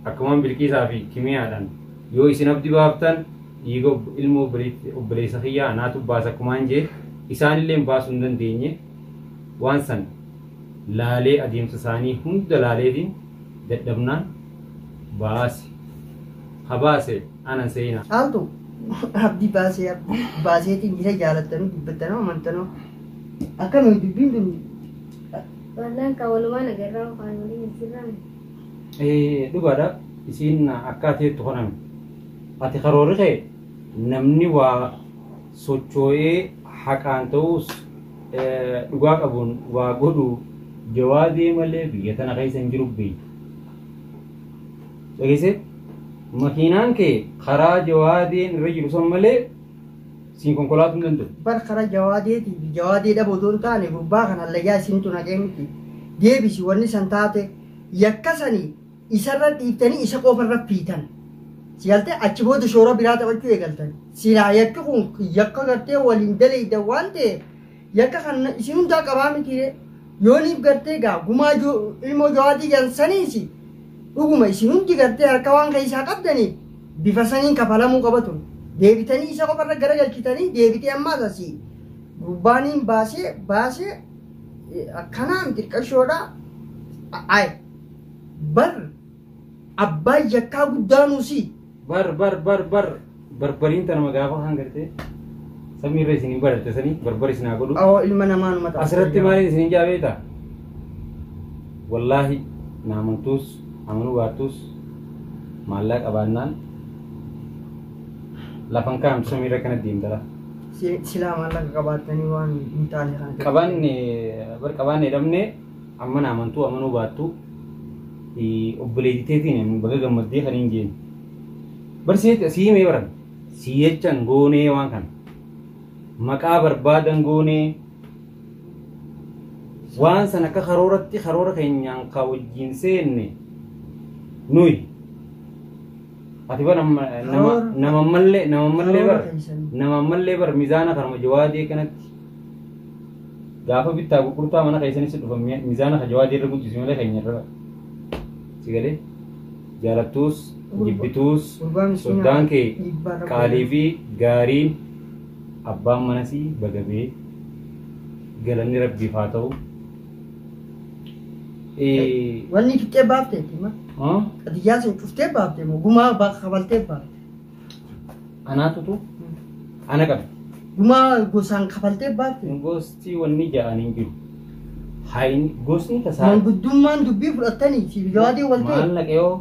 Akkamaan Bilqiisaa fi Kimiyaadhaan yoo isin abdi baaftan dhiiga ob- ilma obboleetti- obboleessa kiyyaa anaatu baasa akkumaan jee isaanilleen baasuu hin dandeenye waan san laalee adeemsa isaanii hunda laaleetiin dadhabnaan baase ha baase anan seeyina Caaltu abdi baasee abdi baaseetiin isa jaalattanuu dubbattanuu amantanuu akkanuma dubbiin kun Wallaan kan walumaan agarraa waan waliin hin sirraanne. Dhugaadha isiin akkaa teettu kanami. Ati karoorri kee namni waa sochoo'ee haqaan ta'uus dhugaa qabuun waa godhu jawaadee malee biyya tana keessa hin jiru beeytu. Dhageessee makiinaan kee karaa jawaadeen irra jiru san malee siin konkolaatuu hin danda'u. Bar karaa jawaadeetii fi jawaadee dhaboo otoo hin taane gurbaa kan hallayyaa isiintu naqee miti. Deebisi wanni san taate. Yakka sani isarra dhiiftanii isa qofa irra fiitan. Si galtee achi booda shoora biraa taphachuu eegaltan. Silaa yakki kun yakka gartee waliin daleeydan waan ta'eef yakka kana isin hundaa qabaa mitiiree. Yooniif gartee gaa gumaa jo- ilmoo jawaatii jedhan saniisi dhuguma isin hundi gartee harka waan keessaa qabdaniif bifa saniin kafalamuu qaba ture. Deebitanii isa qofa irra garagalchitanii deebitee ammaas asii gurbaaniin baasee baasee Akkanaa miti xiqqashoodha. Ay bar abbaa yakkaa guddaa nuusii. Bar bar bar bar barbariin tana magaafa kan gartee samii irra isin hin baratte sanii barbari isin haa godhu. Awoo ilma namaa numa ta'a. Asirratti maaliin isin hin jaabeeta? Wallaahi na amantuus amanuu baattuus maallaqa qabaannaan lafan kaa'amtu samii irra kana deemtara. Si- Silaa maallaqa qabaattanii waan hin taane kana. qabaanne bar qabaanne dhabne amma na amantuu amanuu baattu obboleettiteetiin baga gammaddee kan hin jeenu barsiisa sii mee baran sii jechan goonee waan kana maqaa barbaadan goonee waan san akka karooratti karoora keenyaan ka wajjiin seenne nuyi Ati bar amma nama Aroor. nama ammallee nama ammallee bar Aroora keessan. nama ammallee bar mizaana kanuma jawaadee kanatti gaafa bittaa gurgurtaa mana keessanis dhufa mi- mizaana ka jawaadee irra guddisi malee keenya irra si galee jaalattuus Gurba- jibbituus gurbaan sun soddaan kee dhiibbaa irra qaalii fi gaariin abbaan manasii bagabee galanni rabbiif haa ta'u Eh, Wanni fixxee baafte hima. ah, Qadiyyaa sun cuftee baafte moo gumaa ba- kabaltee baafte. anaatu tu ana qabe. Gumaa gosaan kabaltee baafte. Gosti wanni ja'an hin jiru. Hayin gosni tasaa. Manguddummaan dubbii fudhattanii siif yaadee wal ta'e. Maallaqee hoo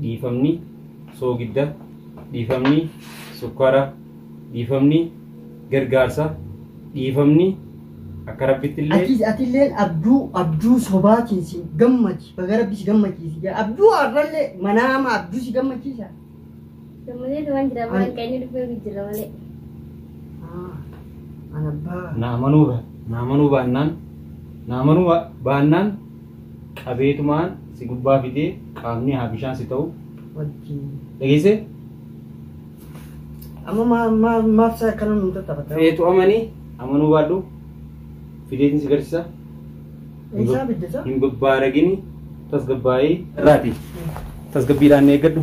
dhiifamni soogidda, dhiifamni sukkara, dhiifamni gargaarsa, dhiifamni akka rabbitti illee Atis atilleen abduu abduu sobaatiin si gammachi baga rabbi si gammachiisi jedha. Abduu har'allee manaa ama abduu si gammachiisa. Gammadee waan jira waan qaanii dhufee jijjiirra malee. Ah, An abbaa. na amanuu ba- na amanuu baannaan na amanuu ba- baannaan qabeetumaan si gubbaa fidee qaamni haa bishaan si ta'u Wajjin. dhageesse Amma maa maa maaf saa akkana nu tattafataa? feetu amanii amanuu baadhu fideetiin si garsiisa Isaa biddisa? hin babbaaragini tasgabbaa'ii irraati tasgabbiidhaan eeggadhu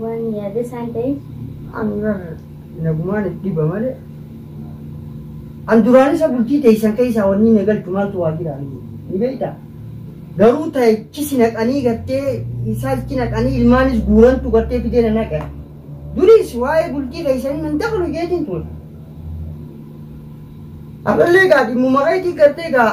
Waan yaadasaan ta'eef. Annan nagumaan if dhiba malee an duraan isa bultii teessan keessaa wanni na galchu maaltu waa jiraan ni beektaa garuu ta'echis naqanii gattee isaatti naqanii ilmaanis guurantu gattee fidee na naqe duris waa'ee bultii keessanii nan dabalu jeetiin ture. Aballee gaa dhimmuma keetii gattee gaa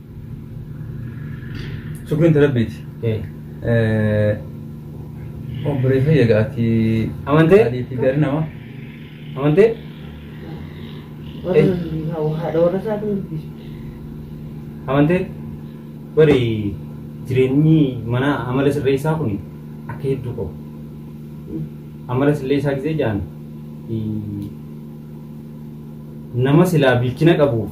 Shukriin Rabbiiti. Obbolee fayya ga'aati. Amantee? Adii fi gaarii nama. Amantee? Haadha warra isaa kan dubbisu. Amantee? Bari jireenyi mana amala sirreessaa kun akka hedduu qabu. Amala sirreessaa gisee jaan nama silaa bilchina qabuuf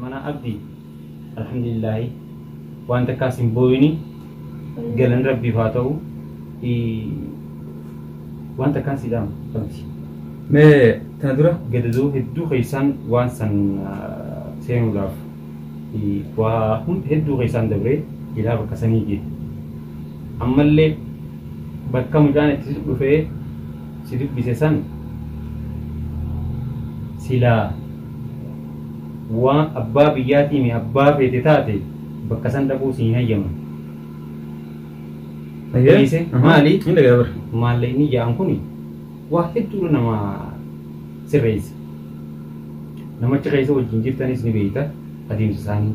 Mana abdi alhamdulillaahi waan takkaas hin booyini galan rabbiif haa ta'u waan takkaan si dhaama abdi mee tana dura gadadoo hedduu keessaan waan san seenuudhaaf waa hunda hedduu keessaan dabree ilaa bakka sanii jee ammallee bakka mucaan itti dhufee si dubbise san silaa Waan abbaa biyyaatii mi abbaa feete taate bakka san dhaquu si hin hayyaman. Dhageesse? Maali? Hin dhagaya bar. Maalle inni ja'an kuni waa hedduudha nama sirreessa. Namachi keessa wajjin jirtanis ni beekta adeemsa isaanii.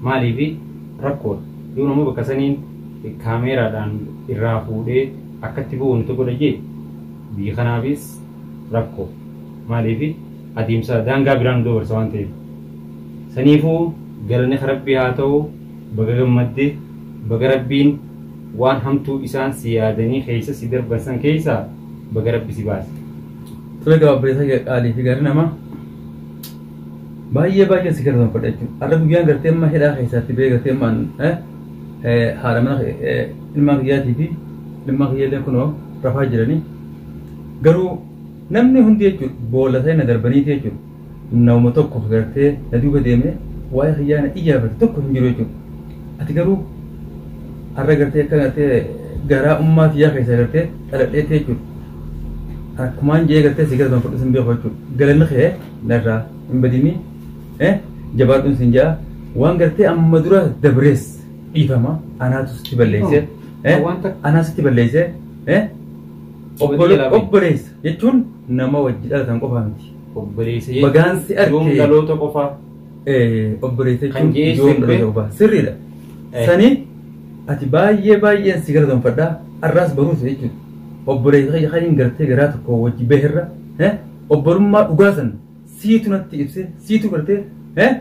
Maaliif rakkoodha. Yoo nama bakka saniin kaameeraadhaan irraa fuudhee akkatti bo'oon itti godha jee biyya kanaafis rakkoo. Maaliif adeemsa daangaa biraa nu dabarsa waan ta'eef. Saniifuu galanni ka Rabbii haa ta'u baga gammadde baga Rabbiin waan hamtuu isaan si yaadanii keessa si darban san keessaa baga Rabbi si baase. Tole egaa obboleessa kee qaalii fi gaarii namaa baay'ee baay'ee si galateeffadha jechuudha. Har'a guyyaan gartee amma hidhaa keessatti bee gartee amma eh, eh, haadha mana kee- eh, ilmaa kiyyaatii fi ilmaa kiyyaallee kunoo rafaa jiranii garuu Namni hundi jechuun boolla ta'e na darbaniiti jechuun nama tokko gartee na duuba deemee waa'ee kiyyaa na ijaafate tokko hin jiru jechuudha. Ati garuu har'a gartee akka gartee garaa ummaa tiyyaa keessaa gartee dhaladheetti jechuudha. Akkumaan jee gartee si garban fudhu sin beeku jechuudha. Galanni kee narraa hin badinii eh jabaadhuun sin ja'a waan gartee amma dura dabrees dhiifama anaatu sitti balleessee eh Wanta- anaas sitti balleessee eh Obbole- Obboleessa jechuun nama wajji dhalatan qofaa miti. Obboleessa jechuun Bagaan si arge. yoom dhaloota qofaa. Eh, Obboleessa Kan jechuun je'e ijoon sirbe. dhala qofaa. Sirriidha. Eh. Sani ati baay'ee baay'een si galateeffadha. Arraas baruusa jechuudha. Obboleessa kiyya kan hin gartee garaa tokko wajji baherra. eh, Obbolummaa dhugaa san siitu natti ibse siitu gartee eh,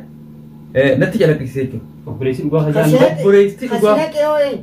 eh, natti calaqqisiise jechuudha. Obboleessi dhugaa kan Kasee- jedhamu. Obboleessi dhugaa. Kasee dhaqee hoo eenyu?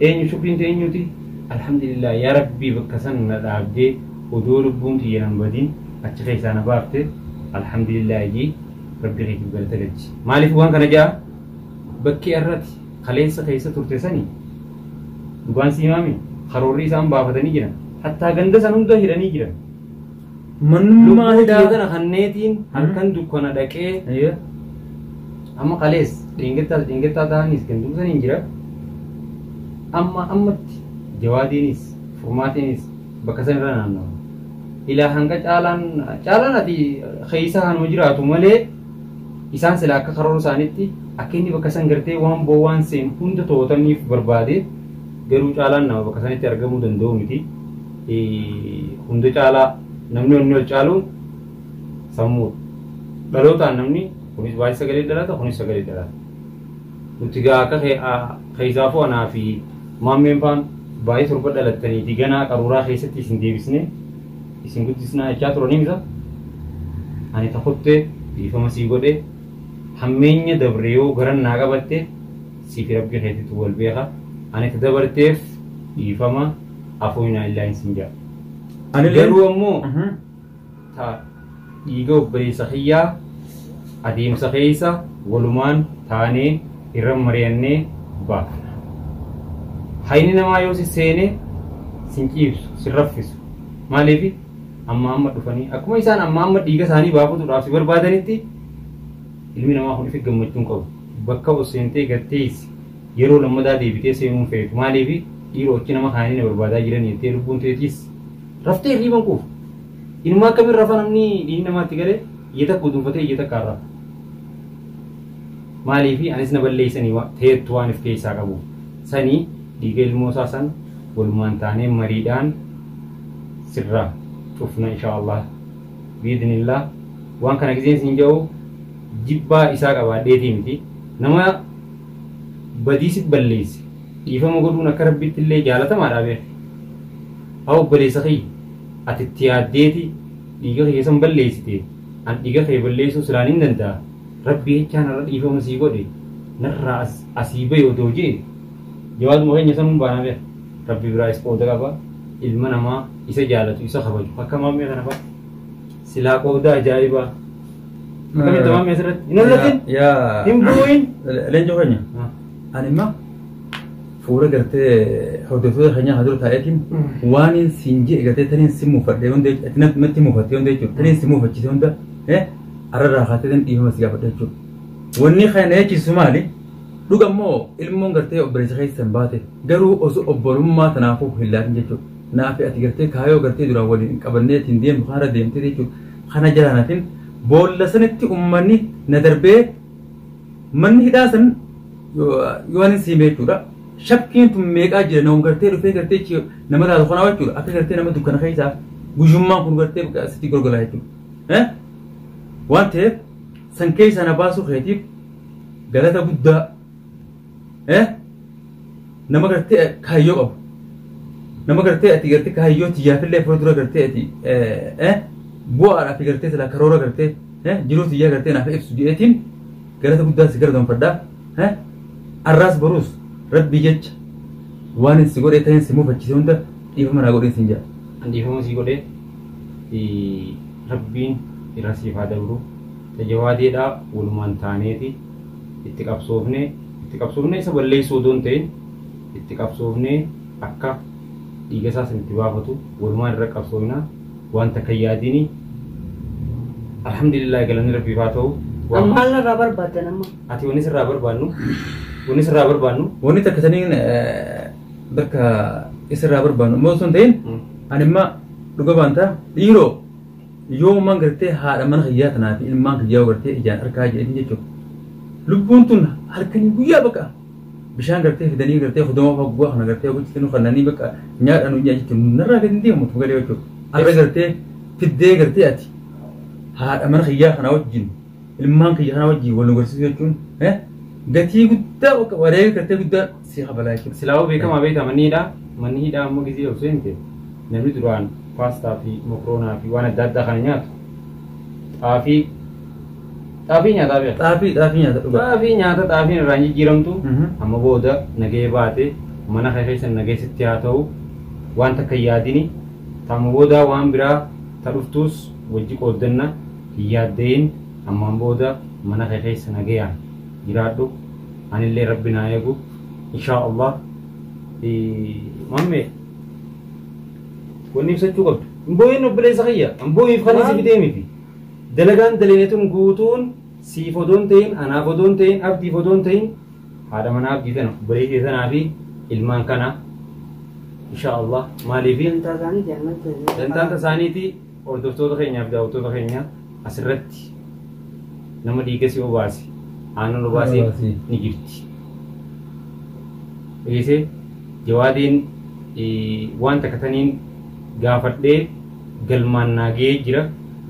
Eenyu shukriin tee eenyuti? Alhamdulillah yaa rabbii bakka san na dhaabdee odoo lubbuun tiyya nan badin achi keessaa na baafte alhamdulillah jii rabbi keetiif galata galchi. Maaliif waan kana ja'a? Bakki arrati kaleessa keessa turte sani dhugaan sii maami karoorri isaan baafatanii jiran hattaa ganda san hunda hidhanii jiran. Mannummaa Lubbuu tiyya kana kanneetiin halkan dukkana dhaqee Ayyee. amma kalees dheengettaas dheengettaa ta'anis kan dubbisaniin jira. Amma ammatti jawaadiinis furmaatiinis bakka san irra naannawa. Ilaa hanga caalaan caalaan ati keessa hanuma jiraatu malee isaan sila akka karoora isaaniitti akka inni bakka san gartee waan boo waan seen hunda to'ataniif barbaade Garuu caalaan nama bakka sanitti argamuu danda'uu miti. Hunda caalaa namni onni ol caalu sammuudha. Dhalootaan namni kunis baay'ee sagalee dhalata kunis sagalee dhalata. Nuti gaa akka keessaafuu anaa fi maammeen faan baay'ee torba dhalattaniiti ganaa qaruuraa keessatti isin deebisnee isin guddisnaa jechaa turanii misa. Ani takuttee dhiifama sii godhee hammeenya dabre yoo garan naa qabattee Sifi rabbi keetitu wal beeka Ani itti dabarteef dhiifama afuuinaa illaahin sin jaa Anilleen garuu ammoo Mhm. ta dhiiga obboleessa kiyyaa adeemsa keessa walumaan taanee irra mari'annee baafna hayni namaa yoo si seene sin ciibsu sin raffisu maaliif amma amma dhufanii akkuma isaan amma amma dhiiga isaanii baafachuudhaaf si barbaadanitti Ilmi namaa kun ifi gammachuu hin qabu. Bakka ol seentee gad teessi yeroo lammataa deebitee seenuu hin feetu. Maaliif dhiiroochi nama kaanii na barbaadaa jiranii jettee lubbuun teetis raftee hirriiba hin quuftu. Inumaa akkamiin rafa namni dhiigni namaa itti gale iyya takka uduunfatee iyya takkaan rafa. Maaliif anis na balleessanii wa- teettu waan if keessaa qabuuf. Sani dhiiga ilmoo isaa san walumaan taanee mariidhaan sirraa cufna inshaa Allah. Biidhinillaah waan kana gizeen siin ja'u jibbaa isaa qabaadheetii miti. Nama badii sit balleesse dhiifama godhuun akka Rabbitti illee jaalatamaadha beekhi. Haa obboleessa kiyya ati itti yaaddeeti dhiiga kiyya san balleessite an dhiiga kee balleessuu silaan hin danda'a. Rabbi jechaan har'a dhiifama sii godhe narraa as asii bahi odoo je'e jawaaduma keenya sanuun baana beekhi. Rabbi biraayis qooda qaba ilma namaa. isa jaalatu isa kabaju akka maammee kana fa'a silaa qooda ajaa'ibaa akkamitti maammee asirratti hin hollatin Yaa. hin bu'in Leenjoo keenya. Ani immoo fuula gartee hordoftoota keenyaa kan dura taa'eetiin waan siin jee egatee taniin si muufadhee hunda ati natti natti muufattee hunda jechuudha. Taniin si muufachiise hunda eh arrarraa kaatee tan dhiifama si gaafadha jechuudha. Wanni kana jechisu maali? Dhuga immoo ilmoon gartee obboleessa keessan baate garuu osoo obbolummaa tanaafuu hin laatin jechuudha. Naafi ati gartee kaayoo gartee duraan waliin hin qabannee ittiin deemtu kanarra deemtee jechuudha. Kana jalaan hafin boolla sanitti ummanni na darbee manni hidhaa san yoo ani siimee jechuudha. Shakkiin tun meeqaa jira nama gartee dhufee gartee chi nama laalu kanaa jechuudha. Akka gartee nama dukkana keessaa guyyummaan kun gartee sitti golgolaa jechuudha. Waan ta'eef san keessaa na baasuu keetiif galata guddaa eh nama gartee kaayyoo qabu nama gartee ati gartee kaayyoo tiyyaafillee fuula dura gartee ati eh bu'aadha ati gartee silaa karoora gartee eh jiruu tiyyaa gartee naaf ibsu jedheetiin galata guddaa si galateeffadha eh arraas baruus rabbii jecha waan si godhee ta'een si mufachiise hunda dhiifama naa godhee siin jedha. Dhiifama si godhee rabbiin irra siif haa dabru tajawaadeedhaa walumaan taaneeti. itti qabsoofnee itti qabsoofnee isa balleessuu odoo hin ta'in itti qabsoofnee akka dhiiga isaa san itti baafatu walumaan irra qabsoofnaa waan takka hin yaadini alhamdulillah galanni rabbiif haa ta'u Waan- Amma maal irraa barbaaddan amma? ati wanni sirraa barbaannu wanni sirraa barbaannu Wanni takka saniin bakka isirraa barbaannu immoo osoo hin ta'in Mm. ani immoo dhuga baantaa dhiiroo Yooman gartee haadha mana kiyyaa tanaa fi ilmaan kiyyaa gartee ijaan arkaa jedheetiin jechuudha. Lubbuun tun halkanii guyyaa baqa bishaan gartee fidanii gartee hudama fa'aa gubbaa kana gartee gochitti nu kannanii baqa nyaadha nu nyaa jechuun narraa gadi hin deemu galee jechuudha. Arra gartee fiddee gartee ati haadha mana kiyyaa kanaa wajjin Ilmaan kiyya kana wajjin wal nu garsiisuu jechuun eh, gatii guddaa bakka wareega gatii guddaa si kabalaa jechuudha. Silaawuu beekamaa beektaa manni hidhaa manni hidhaa amma gizee of seente namni duraan paastaa fi mokroonaa fi waan adda addaa kana nyaatu xaafii xaafii nyaataa beekta. Xaafii xaafii nyaata dhugaa. Xaafii nyaata xaafiin irraa hin jijjiiramtu Mhm. amma booda nagee baate mana kee keessa nagee sitti haa ta'u waan takka hin yaadini tamma booda waan biraa ta dhuftuus wajji qooddanna Hin yaaddayin ammaan booda mana kee keessa nagayaan jiraadhu anillee rabbi naa eegu inshaa Allah Mammee wanni ibsachuu qabdu hin booyin obboleessa kiyya an booyiif kanin si fidee miti dalagaan dalayne tun guutuun siif odoo hin tahin anaaf odoo hin tahin abdiif odoo hin tahin haadha manaa abdii tana obboleessa kee tanaa fi ilmaan kana inshaa Allah maaliifi Dantaa isaanii jaallatanii. dantaan tasaaniitii Hordoftoota keenyaa fi daawwattoota keenya asirratti nama dhiigasii obaase aannan obaase Obaase. ni jirti. Eegisee jawaadiin eh, waan takka taniin gaafadhee galmaan naa ga'ee jira.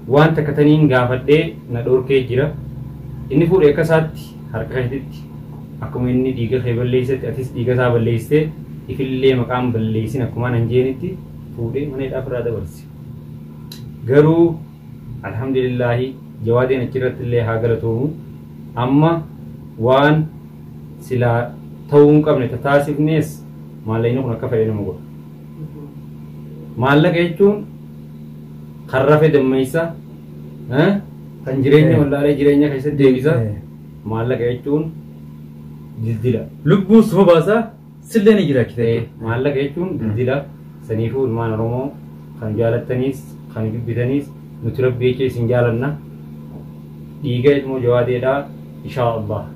Waan takka taniin gaafadhee na dhorkee jira. Inni fuudhe akka isaatti harka keetitti akkuma inni dhiiga kee balleessetti atis dhiiga isaa balleessitee ifillee maqaan balleessin akkuma nan jeenitti fuudhee mana hidhaa ofirraa dabarse. garuu alhamdulillaahi jawaadeen achirratti illee haa galatoomu amma waan silaa ta'uu hin qabne tataasifnees maallaqni kun akka fedhe nama godha maallaqa jechuun kan rafe dammeessa eh, kan jireenya Eh. wallaalee jireenya keessatti deebisa Eh. maallaqa jechuun dildila lubbuus numa baasa Sillee ni jira achi ta'ee. Maallaqa jechuun dildila. Saniifuu ilmaan Oromoo kan jaalattaniis kan jibbitaniis nuti rabbi jecha isin jaalanna. Dhiiga ilmoo jawaadeedha. Ishaa Allah.